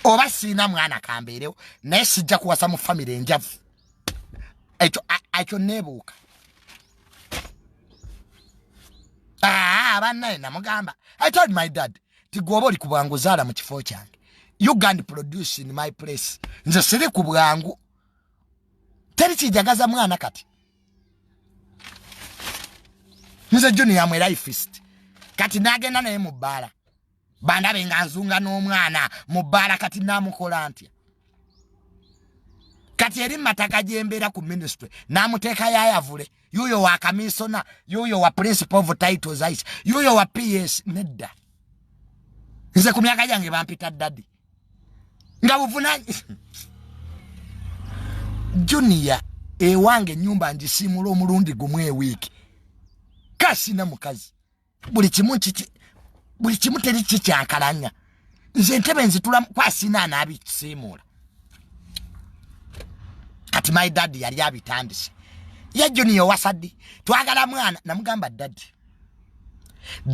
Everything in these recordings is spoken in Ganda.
oba siina mwana kambeerewo naye sijja kuwasa mu famire enjavu ekyo ekyo neebuuka abannaye namugamba i told my dad ti gwoba oli ku bwangu zaala mu kifo kyange ugand produce in my place nze siri ku bwangu teri kijagaza mwana kati nze junior mwe lifist kati nagenda naye mu bbaala bandabe nga nzunga n'omwana mu bbaala kati naamukola ntya kati eri mataka gyembeera ku ministry n'amuteeka yayavule yuuyo wa kamisona yuuyo wa principal of titles ice yuuyo wa ps nedda nze ku myaka gyange bampita dadi nga buvuna junior ewange enyumba ngisimula omulundi gumu ewiiki kasina mukazi buli kimu kiki buli kimu teri kikyankalanya nze entebe nzitula kwasina anabisiimuula kati my dad yali abitandise ye junior wasaddi twagala mwana namugamba dadi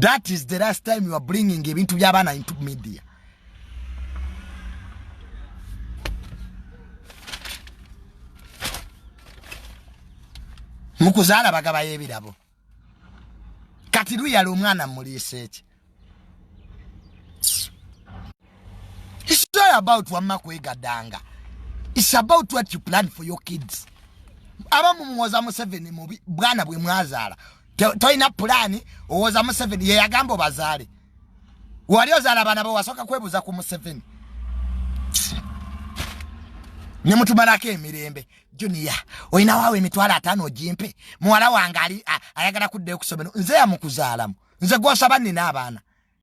that is the last time youare bringing ebintu byabaana into media mukuzaala bagabayo ebirabo kati luyala omwana muliisa eki It's not about wamma kwegadanga It's about what you plan for your kids abamu muwoza museveni mubi bwana bwe mwazaala tolina pulaani owoza museveni yeyagamba obazaale wali ozaala abaana bo wasooka kwebuuza ku museveni nemutumalako emirembe junior olina waawo emitwalo ataano ogimpe muwala wange ali ayagala kuddayo ku ssomero nze yamukuzaalamu nze gwosaba nina abaana